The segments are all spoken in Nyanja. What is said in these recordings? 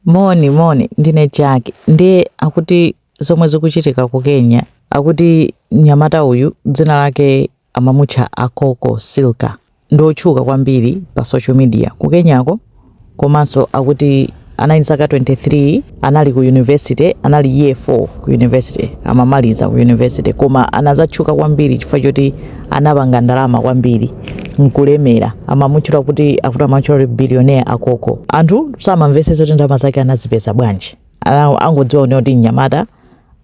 Moni moni ndine Jack nde akuti zomwe zikuchitika ku Kenya akuti mnyamata uyu dzina lake amamutcha Akoko Silka ndi otchuka kwambiri pa social media ku Kenyako komanso akuti anali ndi zaka 23 anali ku university anali year 4 ku university amamaliza ku university koma anazatchuka kwambiri chifukwa choti anapanga ndalama kwambiri nkulemera amamutchula kuti akuti amamutchula kuti billionaire akoko anthu samamvetsetsa kuti ndalama zake anazipeza bwanji Ana- angodziwa kunena kuti mnyamata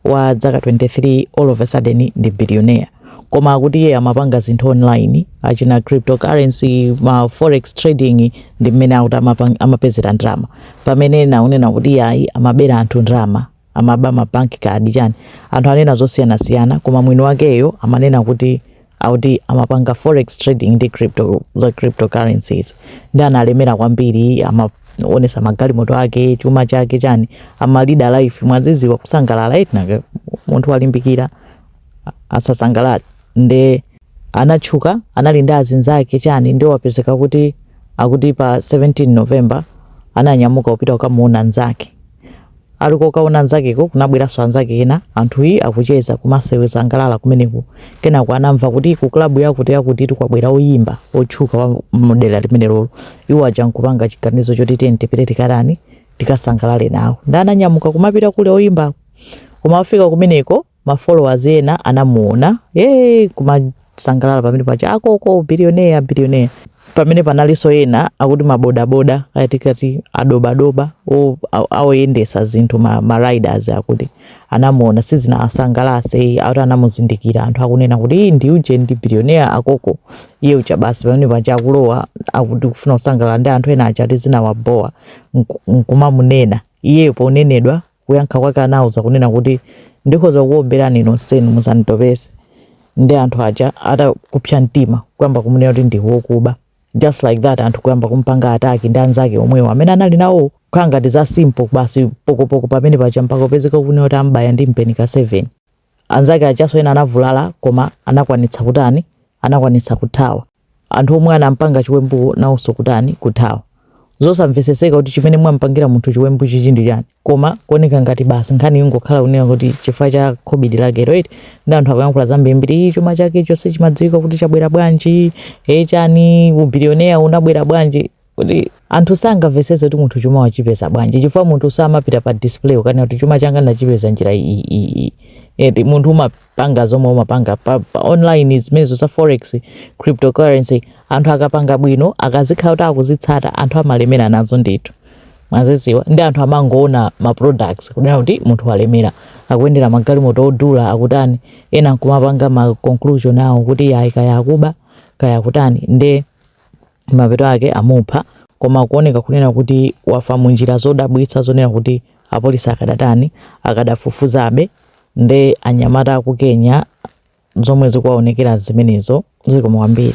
wa zaka 23 all of a sudden ndi billionaire koma akuti iye amapanga zinthu online achina cryptocurrency ma forex trading ndi mmene akuti amapang- amapezera ndalama pamene ena akunena kuti iye ayi amabera anthu ndalama amaba ma bank card chani anthu anena zosiyanasiyana koma mwini wakeyo amanena kuti akuti amapanga forex trading ndi crypto za cryptocurrencies nde analemera kwambiri amaonesa magalimoto ake chuma chake chani amalida life mwadziwa kusangalala eti nanga munthu walimbikira asasangalale nde anatchuka anali ndi azinzake chani nde wapezeka kuti akuti pa 17 november ananyamuka kupita kukamuona nzake ali kokaona nzakeko kunabweranso anzake ena anthu akucheza kumasewera kusangalala kumeneku kenako anamva kuti ku klabu yakuti yakuti kwabwera oyimba otchuka wa mdera limenelolo iwo aja nkupanga chiganizo choti tiyeni tipite tikatani tikasangalale nawo nde ananyamuka kumapita kuli oyimbako kumafika kumeneko ma followers ena anamuona ee kumasangalala pamene paja akoko billionaire billionaire pamene panalinso ena akuti mabodaboda atikati adobadoba o- a- oyendetsa zinthu ma, ma riders akuti anamuona sizinawasangalatse akuti anamuzindikira anthu akunena kuti iii ndi uje ndi billionaire akoko iye uja basi pamene paja akulowa akuti kufuna kusangalala ndi anthu ena aja ati zinawabowa nku- nkumamunena iyeyo ponenedwa Kuyankha kwake anauza kunena kuti, Ndikhoza kukuomberani nonsenu musanditopetse nde anthu aja ati kupsa mtima kuyamba kumunena kuti ndi wokuba just like that anthu kuyamba kumpanga attack ndi anzake omwewo amene anali nawowo kukhala ngati za simple basi pokopoko pamene paja mpaka kupezeka kunena kuti amubaya ndi mpeni ka 7. Anzake ajanso ena anavulala koma anakwanitsa kutani? Anakwanitsa kuthawa. Anthu omwe anampanga chiwembuwo nawonso kutani? Kuthawa. Zosamvetsetseka kuti chimene mwampangira munthu chiwembu chichi ndi chani koma kuoneka ngati basi nkhani ingokhala kunena kuti chifukwa cha khobidi lakelo eti nde anthu akuyankhula zambirimbiri ii chuma chake chonse sichimadziwika kuti chabwera bwanji ee chani ubiliyonea unabwera bwanji kuti anthu sangamvetsetse kuti munthu chuma wachipeza bwanji chifukwa munthu samapita pa display kukanena kuti chuma changa ndachipeza njira iyi iyi iyi eti munthu umapanga zomwe umapanga pa, pa online zimenezo za forex cryptocurrency anthu akapanga bwino akamakhala kuti akuzitsata anthu amalemera nazo ndithu mwadzidziwa nde anthu amangoona ma products kunena kuti munthu walemera akuyendera magalimoto odula akutani ena nkumapanga ma conclusion awo kuti ayi kaya akuba kaya akutani nde mapeto ake amupha koma kuoneka kunena kuti wafa munjira zodabwitsa zonena kuti apolisi akadatani akadafufuzabe nde anyamata aku Kenya zomwe zikuwaonekera zimenezo zikomo kwambiri